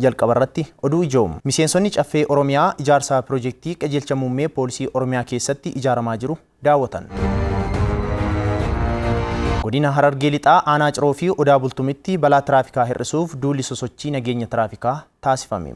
Jalqaba irratti oduu ijoo. Miseensonni Caffee Oromiyaa ijaarsa Pirojeektii Qajeelcha Muummee Poolisii Oromiyaa keessatti ijaaramaa jiru daawwatan. Godina Harargee Lixaa Aanaa Ciroo fi Odaa Bultumitti balaa tiraafikaa hir'isuuf duulli sosochii nageenya tiraafikaa taasifame.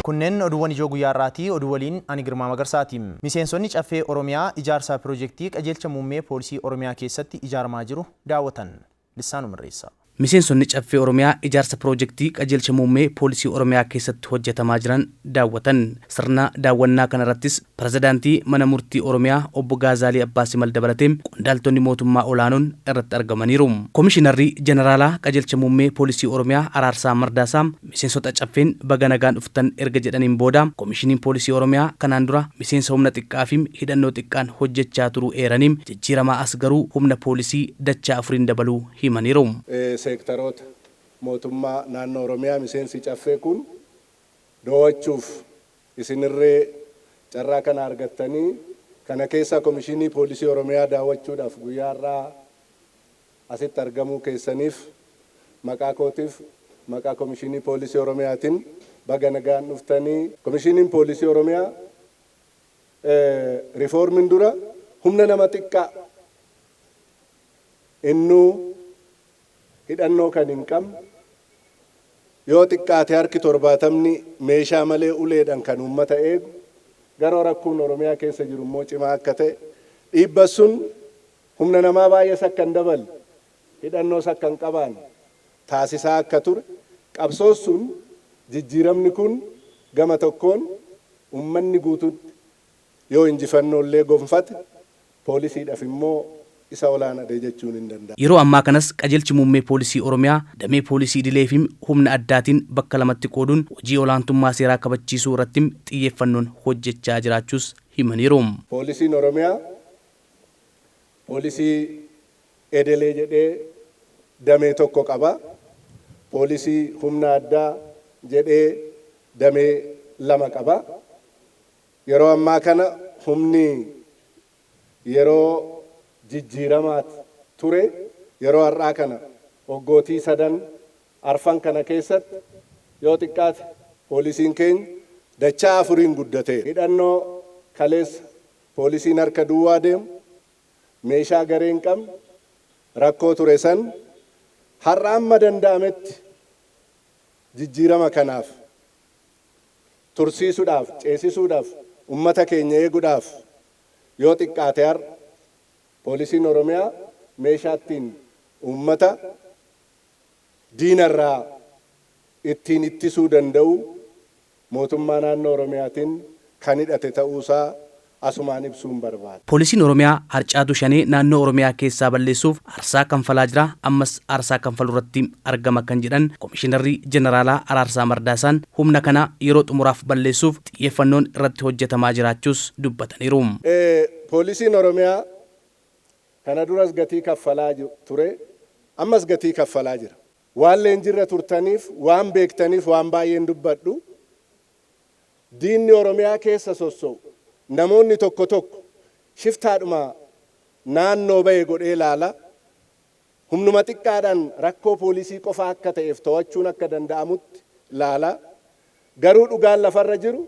Kunneen oduuwwan ijoo guyyaa har'aati. Oduu waliin ani Girmaa Magarsaati. Miseensonni Caffee Oromiyaa ijaarsa Pirojeektii Qajeelcha Muummee Poolisii Oromiyaa keessatti ijaaramaa jiru daawwatan. Lissaanuma Irreessaa. Miseensonni Caffee Oromiyaa ijaarsa Piroojektii Qajeelcha Muummee Poolisii Oromiyaa keessatti hojjetamaa jiran daawwatan. Sirna daawwannaa kanarrattis Pirezidaantii Mana Murtii Oromiyaa Obbo Gaazaalii Abbaa Simal dabalatee qondaaltonni mootummaa olaanoon irratti argamaniiru. Komishinarri Jeneraalaa Qajeelcha Muummee Poolisii Oromiyaa Araarsaa Mardaasaa, Miseensota Caffeen baga nagaan dhuftan erga jedhaniin booda, Komishiniin Poolisii Oromiyaa kanaan dura miseensa humna xiqqaafi hidhannoo xiqqaan hojjechaa turuu eeranii, jijjiiramaa as garuu humna poolisii dachaa afuriin dabaluu himaniiru. Seektaroota mootummaa naannoo Oromiyaa miseensi Caffee kun doo'achuuf isinirree carraa kana argattanii, kana keessaa Komishinii Poolisii Oromiyaa daawwachuudhaaf guyyaa har'aa Asitti argamuu keessaniif maqaa kootiif maqaa Komishiinii Poolisii Oromiyaatiin baga nagaan dhuftani. Komishiiniin Poolisii Oromiyaa rifoormiin dura humna nama xiqqaa, innuu hidhannoo kan hin qabne, yoo xiqqaate harki torbaatamni meeshaa malee uleedhaan kan uummata eegu, garoo rakkoon Oromiyaa keessa jiru immoo cimaa akka ta'e, dhiibba sun Humna namaa baay'ees akka hin daballe, hidhannoos akka hin qabaanne taasisaa akka ture qabsoos sun jijjiiramni kun gama tokkoon ummanni guutuutti yoo injifannoo illee gonfate poolisiidhaf immoo isa olaanadha jechuun hin danda'amu. Yeroo ammaa kanas Qajeelchi Muummee Poolisii Oromiyaa damee poolisii idileefim humna addaatiin bakka lamatti qooduun hojii olaantummaa seeraa kabachiisuu irrattim xiyyeeffannoon hojjechaa jiraachuus himaniiru. Poolisiin Oromiyaa Poolisii Edelee jedhee damee tokko qaba. Poolisii Humna Addaa jedhee damee lama qaba. Yeroo ammaa kana humni yeroo jijjiiramaat ture yeroo har'aa kana waggootii sadan arfan kana keessatti yoo xiqqaate poolisiin keenya dachaa afuriin guddateera. Hidhannoo kaleessa Poolisiin harka duwwaa deemu, meeshaa garee hin qabne, rakkoo ture san har'a amma danda'ametti jijjiirama kanaaf tursiisudhaaf, ceesisuudhaf, ummata keenya eegudhaaf yoo xiqqaate har'a Poolisiin Oromiyaa meeshaa ittiin ummata diinarraa ittiin ittisuu danda'u Mootummaa Naannoo Oromiyaatin kan hidhate ta'uusaa asumaan ibsuun barbaada. Poolisiin Oromiyaa harcaatuu Shanee naannoo Oromiyaa keessaa balleessuuf aarsaa kanfalaa jira, ammas aarsaa kanfalurratti argama kan jedhan Komishinarri Jeneraalaa Araarsaa Mardaasaan, humna kana yeroo xumuraaf balleessuuf xiyyeeffannoon irratti hojjetamaa jiraachuus dubbataniiru. Poolisiin Oromiyaa Kana duras gatii kaffalaa ture, ammas gatii kaffalaa jira. Waan leenjirra turtaniif, waan beektaniif waan baay'een dubbadhu. Diinni Oromiyaa keessa sosso'u namoonni tokko tokko shiftaadhuma naannoo ba'e godhee laala. Humnuma xiqqaadhaan rakkoo poolisii qofaa akka ta'eef to'achuun akka danda'amutti laala. Garuu dhugaan lafarra jiru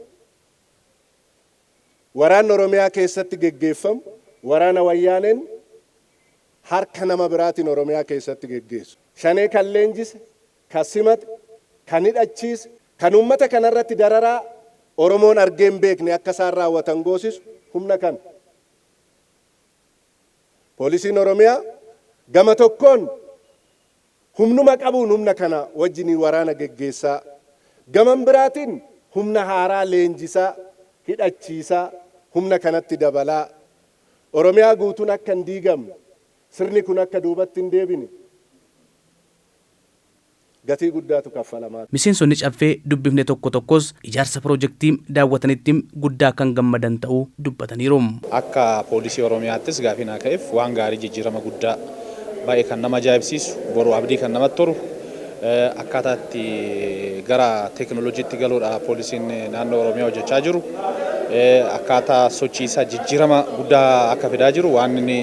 Waraanni Oromiyaa keessatti geggeeffamu waraana Wayyaaneen harka nama biraatiin Oromiyaa keessatti geggeessu, Shanee kan leenjise, kan simate, kan hidhachiise, kan uummata kana irratti dararaa Oromoon argee hin beekne akka isaan raawwatan goosisu humna kana. Poolisiin Oromiyaa gama tokkoon Humnuma qabuun humna kana wajjiniin waraana geggeessaa, gaman biraatiin humna haaraa leenjisaa, hidhachiisaa, humna kanatti dabalaa, Oromiyaa guutuun akka hin diigamne, sirni kun akka duubatti hin deebine gatii guddaatu kaffalamaa ture. Miseensonni Caffee dubbifne tokko tokkos ijaarsa pirojektii daawwatanitti guddaa kan gammadan ta'uu dubbataniiru. Akka Poolisii Oromiyaattis gaafii naa ka'eef waan gaarii jijjiirama guddaa baay'ee kan nama ajaa'ibsiisu, boru abdii kan namatti horu, akkaataa itti gara teeknooloojiitti galuudha Poolisiin Naannoo Oromiyaa hojjechaa jiru. Akkaataa sochii isaa jijjiirama guddaa akka fidaa jiru waan inni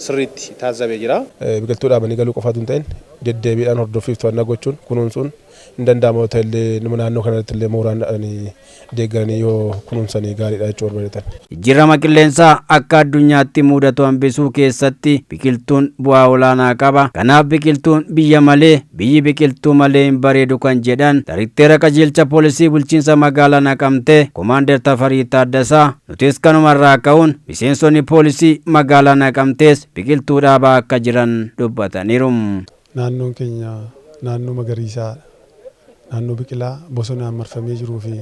sirriitti taazzabe jira. Biqiltuu dhaabanii galuu qofaa utuu hin ta'in deddeebiidhaan hordoffiif to'annaa gochuun, kunuunsuun, Hin danda'ama yoo ta'ellee numa naannoo kana irrattillee mooraan dha'anii deeggaranii yoo kunuunsanii gaariidha jechuu barbadetan. Jijjiirama qilleensaa akka addunyaatti muudatu hambisuu keessatti biqiltuun bu'aa olaanaa qaba. Kanaaf biqiltuun biyya malee, biyyi biqiltuu malee hin bareedu kan jedhan Darekteera Qajeelcha Poolisii Bulchiinsa Magaalaa Naqamtee Komaandar Tafarii Taaddasaa, nutis kanuma irraa ka'uun miseensonni poolisii magaalaa Naqamtees biqiltuu dhaabaa akka jiran dubbataniiru. Naannoon keenya naannoo magariisaa, naannoo biqilaa bosonaan marfamee jiruu fi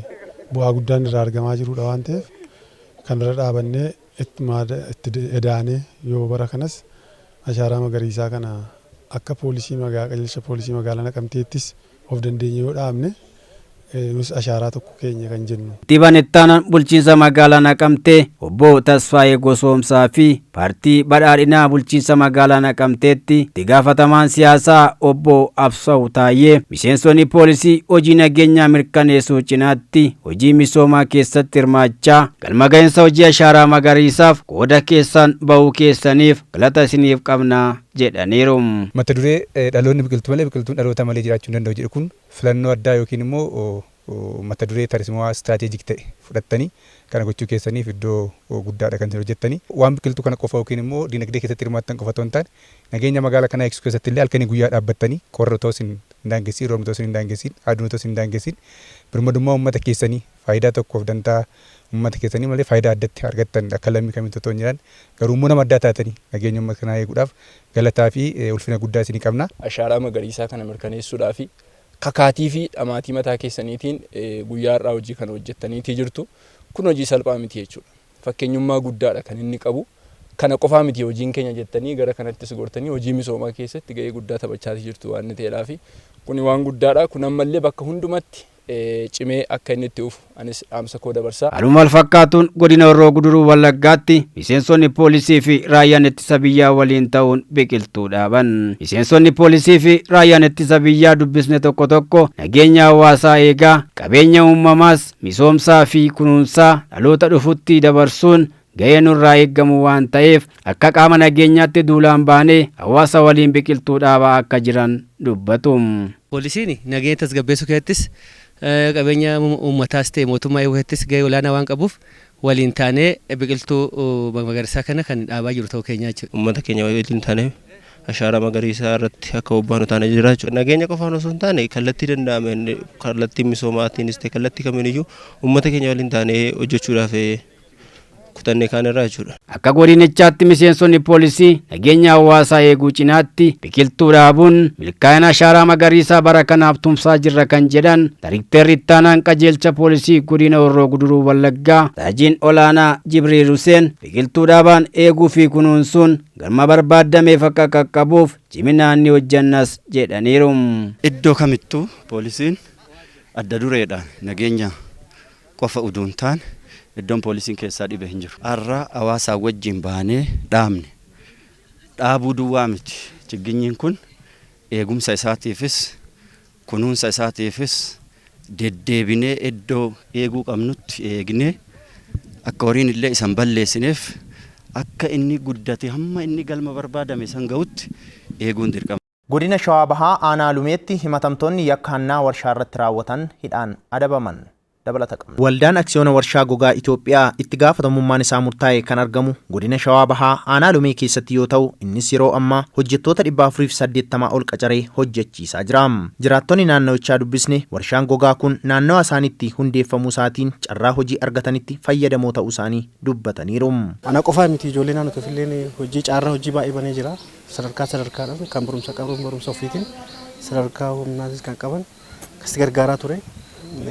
bu'aa guddaan irraa argamaa jiruudha waan ta'eef kana irra dhaabannee itti edaanee yoo bara kanas ashaaraa magariisaa kana akka poolisii magaa qajeelcha poolisii magaalaa Naqamteettis Of dandeenye yoo dhaabne nus ashaaraa tokko keenya kan jennu. Kantiibaan Ittaanaan Bulchiinsa Magaalaa Naqamtee Obbo Tasfaayee Gosoomsaa fi Paartii Badhaadhinaa Bulchiinsa Magaalaa Naqamteetti Itti Gaafatamaan Siyaasaa Obbo Absaw Taayyee miseensonni poolisii hojii nageenyaa mirkaneessuu cinaatti hojii misoomaa keessatti hirmaachaa galma gahinsa hojii ashaaraa magariisaaf qooda keessaan bahuu keessaniif galata isiniif qabna jedhaniiru. Mata duree Dhaloonni biqiltuu malee biqiltuun dhaloota malee jiraachuu hin danda'u jedhu kun filannoo addaa yookiin immoo mata duree tarsimawaa, strategic, ta'e fudhattanii kana gochuu keessaniif iddoo guddaadha kan isin hojjettani. Waan biqiltuu kana qofa yookiin immoo dinagdee keessatti hirmaattan qofa otoo hin taane nageenya magaala kanaa eegsisuu keessatti illee halkanii guyyaa dhaabbattanii qorri otoo isin hin daangessiin, roobni otoo isin hin daangessiin, aduun otoo isin hin daangessiin birmadummaa uummata keessanii, faayidaa tokkoof dantaa ummata keessanii malee faayidaa addatti argattan akka lammii kamiitti otoo hin jiraan garuu immoo nama addaa taatanii nageenya ummata kanaa eeguudhaaf galataa fi ulfina guddaa isinii qabna. Ashaaraa magariisaa kana mirkaneessuudhaaf kakaatii fi dhamaatii mataa keessaniitiin guyyaa har'aa hojii kana hojjettaniitii jirtu. Kun hojii salphaa miti jechuudha. Fakkeenyummaa guddaa dha kan inni qabu. Kana qofaa miti hojiin keenya jettanii gara kanattis gortanii hojii misoomaa keessatti gahee guddaa taphachaatii jirtu waan ta'eedhaafi kuni waan guddaa dha. Kun ammallee bakka hundumatti cimee akka inni itti fufu anis dhaamsa koo dabarsa. Haaluma walfakkaatuun Godina Horroo Guduruu Wallaggaatti miseensonni poolisii fi raayyaan ittisa biyyaa waliin ta'uun biqiltuu dhaaban. Miseensonni poolisii fi raayyaan ittisa biyyaa dubbisne tokko tokko nageenya hawaasaa eegaa, qabeenya uumamaas misoomsaa fi kunuunsaa dhaloota dhufutti dabarsuun gahee nurraa eegamu waan ta'eef akka qaama nageenyaatti duulaan baanee hawaasa waliin biqiltuu dhaabaa akka jiran dubbatu. Poolisiin nageenya tasgabbeessuu keessattis, qabeenya uummataas ta'e mootummaa eeguu keessattis gahee olaanaa waan qabuuf waliin taanee biqiltuu magariisaa kana kan dhaabaa jirru ta'uu keenyaa jechuudha. Uummata keenya waliin taanee ashaaraa magariisaa irratti akka bobbaanu taanee jirra jechuudha. Nageenya qofaan osoo hin taane kallattii danda'ameen kallattii misoomaatiinis ta'e kallattii kamiiniyyuu uummata keenya waliin taanee hojjechuudhaaf kutanne kaan irraa jechuudha. Akka godinichaatti miseensonni poolisii nageenya hawaasaa eeguu cinaatti biqiltuu dhaabuun milkaa'ina ashaaraa magariisaa bara kanaaf tumsaa jirra kan jedhan Darikteerri Ittaanaan Qajeelcha Poolisii Godina Horroo Guduruu Wallaggaa Saajiin Olaanaa Jibriil Huseen biqiltuu dhaabaan eeguu fi kunuunsuun galma barbaadameef akka qaqqabuuf ciminaan ni hojjannas jedhaniiru. Iddoo kamittuu poolisiin adda dureedhaan nageenya qofa uduu hin taane iddoon poolisiin keessaa dhibe hin jiru. Har'a hawaasaa wajjiin baanee dhaabne. Dhaabuu duwwaa miti chigginyiin kun eegumsa isaatiifis, kunuunsa isaatiifis deddeebinee iddoo eeguu qabnutti eegnee akka horiin illee isa hin balleessineef akka inni guddatee hamma inni galma barbaadame san gahutti eeguun dirqama. Godina Shawaa Bahaa Aanaa Lumeetti himatamtoonni yakka hannaa warshaarratti raawwatan hidhaan adabaman. Dabalata qabna. Waldaan Aksiyoona Warshaa Gogaa Itoophiyaa itti gaafatamummaan isaa murtaa'e kan argamu Godina Shawaa Bahaa Aanaa Lumee keessatti yoo ta'u, innis yeroo ammaa hojjettoota 480 ol qacaree hojjechiisaa jira. Jiraattonni naannawichaa dubbisne warshaan gogaa kun naannawa isaaniitti hundeeffamuu isaatiin carraa hojii argatanitti fayyadamoo ta'uu isaanii dubbataniiru. Ana qofaa miti ijoollee naannoo keessa illee hojii caarraa hojii baay'ee banee jira. Sadarkaa sadarkaadhaan kan barumsa qaban barumsa ofiitiin sadarkaa humnaatis kan qaban akkasitti gargaaraa ture.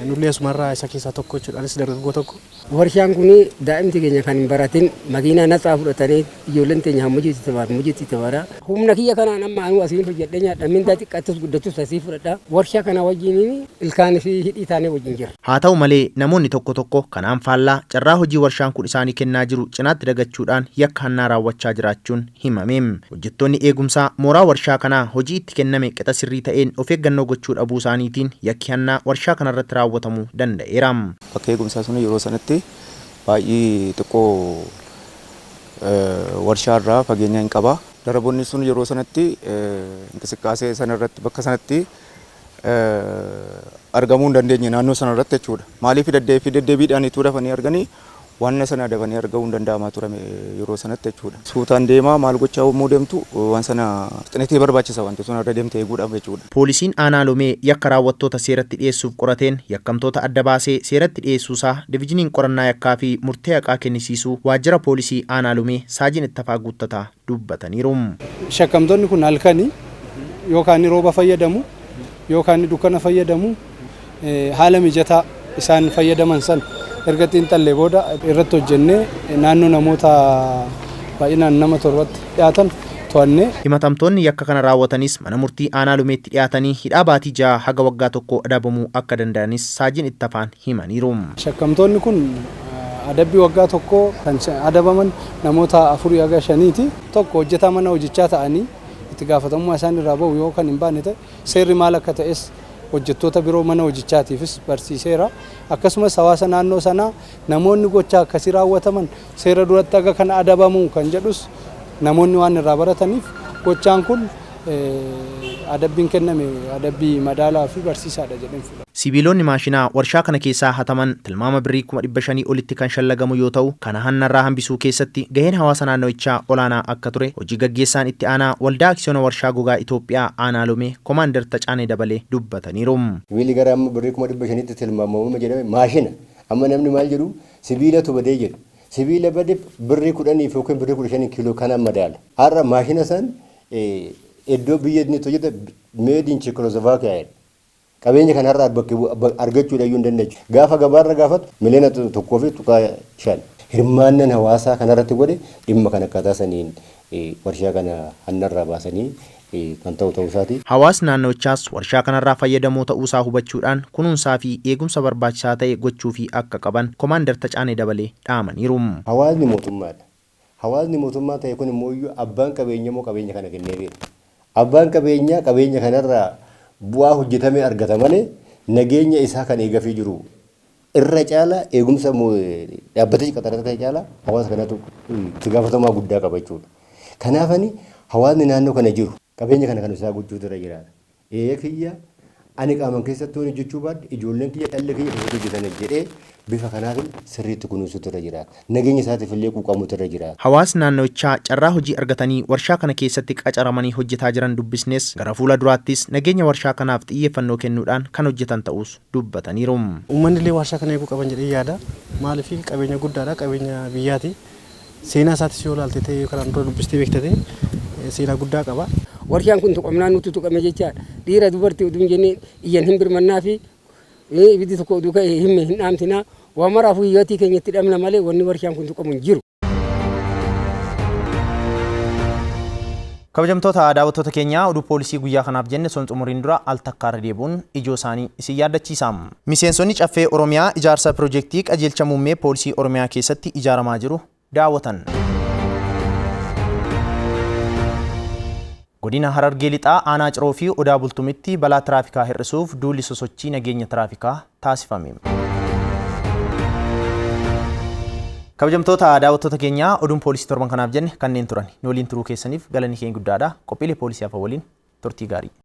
Nullee asumarraa isa keessaa tokko jechuudha. Anis dargaggoo tokko. Warshaan kun daa'imti keenya kan hin baratin makiinaa natsaa fudhatanii ijoolleen teenya hammajiitti tabaar mujiitti tabaara. Humna kiyya kanaan amma anuu asiin hojjedhee nyaadha mindaa xiqqaattus guddattus asii fudhadha. Warshaa kana wajjin ilkaan fi hidhii taanee wajjin jira. Haa ta'u malee, namoonni tokko tokko kanaan faallaa carraa hojii warshaan kun isaanii kennaa jiru cinaatti dagachuudhaan yakka hannaa raawwachaa jiraachuun himame. Hojjettoonni eegumsaa mooraa warshaa kanaa hojii itti kenname qixa sirrii ta'een of eeggannoo gochuu dhabuu isaaniitiin yakki hannaa warshaa kanarratti raawwatamuu danda'eera. Bakki eegumsaa sun yeroo sanatti baay'ee xiqqoo warshaa irraa fageenya hin qaba. Daraboonni sun yeroo sanatti inqisiqqaasee sana irratti bakka sanatti. argamuu hin dandeenye naannoo sana irratti jechuudha. Maaliif daddeefi deddeebiidhaan ituu dafanii arganii wanna sana dafanii arga'uu hin danda'amaa turame yeroo sanatti jechuudha. Suutaan deemaa maal gochaa yommuu deemtu waan sana fixinitee barbaachisa wanti sun irra deemte eeguudhaaf jechuudha. Poolisiin Aanaa Lomee yakka raawwattoota seeratti dhiyeessuuf qorateen yakkamtoota adda baasee seeratti dhiyeessuusaa Divijiniin Qorannaa Yakkaafi Murtee Haqaa Kennisiisuu Waajjira Poolisii Aanaa Lomee Saajin Ittafaa Guuttataa dubbataniiru. Shakkamtoonni kun halkani yoo kaanni rooba fayyadamu, yoo kaanni dukkana fayyadamu haala mijataa isaan fayyadaman sana erga xiinxallee booda irratti hojjennee naannoo namoota baay'inaan nama torbatti dhiyaatan to'annee. Himatamtoonni yakka kana raawwatanis mana murtii aanaa Lumeetti dhiyaatanii hidhaa baatii 6 haga waggaa tokkoo adabamuu akka danda'anis Saajin Ittafaan himaniiru. Shakkamtoonni kun Adabbii waggaa tokkoo kan adabaman namoota afurii haga shaniiti. 1 hojjetaa mana hojichaa ta'anii itti gaafatamummaa isaan irraa bahu yoo kan hin baanne ta'e seerri maal akka ta'es hojjettoota biroo mana hojichaatiifis barsiiseera. Akkasumas hawaasa naannoo sanaa namoonni gochaa akkasii raawwataman seera duratti haga kana adabamuu kan jedhus namoonni waan irraa barataniif gochaan kun Adabbiin kenname adabbii madaalawaa fi barsiisaa dha jedheen fudhadha. Sibiiloonni maashina warshaa kana keessaa hataman tilmaama birrii kuma 500 olitti kan shallagamu yoo ta'u, kana hannarraa hambisuu keessatti gaheen hawaasa naannawichaa olaanaa akka ture Hoji Gaggeessaan Itti Aanaa Waldaa Aksiyoona Warshaa Gogaa Itoophiyaa Aanaa Lomee Komaander Tacaanee Dabalee dubbataniiru. Sibiilli gara amma birrii kuma 500tti tilmaamamama jedhame maashina. Amma namni maal jedhu sibiilatu badee jedhu. Sibiila bade birrii 10f ykn birrii 15n kiiloo kanaan madaala. Har'a maashina san Iddoo biyya inni itti hojjete made in Czechoslovakia jedha. Qabeenya kana har'a bakka bu- abba- argachuudha iyyuu hin dandeenye. Gaafa gabaarra gaafatu miliyoona to- tokkoo fi tuqaa shan. Hirmaannan hawaasaa kanarratti godhe dhimma kana akkaataa saniin eh, warshaa kana hannarraa baasanii eh, kan ta'u ta'uu isaati. Hawaasni naannawichaas warshaa kanarraa fayyadamoo ta'uusaa hubachuudhaan kunuunsaa fi eegumsa barbaachisaa ta'e gochuufii akka qaban Komaandar Tacaanee Dabalee dhaamaniiru. Hawaasni mootummaadha. Hawaasni mootummaa ta'e kun immoo iyyuu abbaan qabeenyaa immoo qabeenya kana kenneefiidha. Abbaan qabeenyaa qabeenya kana irraa bu'aa hojjetamee argata malee nageenya isaa kan eegafii jiru irra caala eegumsa dhaabbatichi qaxarate kana caala hawaasa kanatu itti gaafatamaa guddaa qaba jechuudha. Kanaaf ani hawaasni naannoo kana jiru qabeenya kana kan isaa gochuutu irra jiraata. Eeye kiyya, ani qaaman keessatti yoon hojjechuu baadhe ijoolleen kiyya dhalli kiyya keessatti hojjetana jedhee bifa kanaafin sirriitti kunuunsuutu irra jira. Nageenya isaatiif illee quuqamuutu irra jira. Hawaasni naannawichaa carraa hojii argatanii warshaa kana keessatti qacaramanii hojjetaa jiran dubbisnes gara fuula duraattis nageenya warshaa kanaaf xiyyeeffannoo kennuudhaan kan hojjetan ta'uus dubbataniiru. Uummanni illee warshaa kana eeguu qaban jedheen yaada. Maaliif qabeenya guddaadha, qabeenya biyyaati. Seenaa isaatis yoo ilaalte ta'ee yoo kanaan dura dubbistee beekta ta'e seenaa guddaa qaba. Warshaan kun tuqamnaan nutu tuqame jechaa dha. Dhiira dubarti utuu hin jenne iyyan hin birmannaa fi ibiddi tokko utuu ka'e himme hin dhaamsina. Waa maraafuu hiyyootii keenya itti dhabna malee wanni warshaan kun tuqamu hin jiru. Kabajamtoota daawwattoota keenyaa oduu poolisii guyyaa kanaaf jenne osoo hin xumuriin dura al takkaa irra deebi'uun ijoo isaanii isin yaaddachiisa. Miseensonni Caffee Oromiyaa ijaarsa Pirojektii Qajeelcha Muummee Poolisii Oromiyaa keessatti ijaaramaa jiru daawwatan. Godina Harargee Lixaa Aanaa Ciroo fi Odaa Bultumitti balaa tiraafikaa hir'isuuf duulli sosochii nageenya tiraafikaa taasifame. Kabajamtoota daawwattoota keenya oduun poolisii torban kanaaf jenne kanneen turan. Nu waliin turuu keessaniif galanni keenya guddaadha. Qophiilee poolisii hafa waliin turtii gaarii.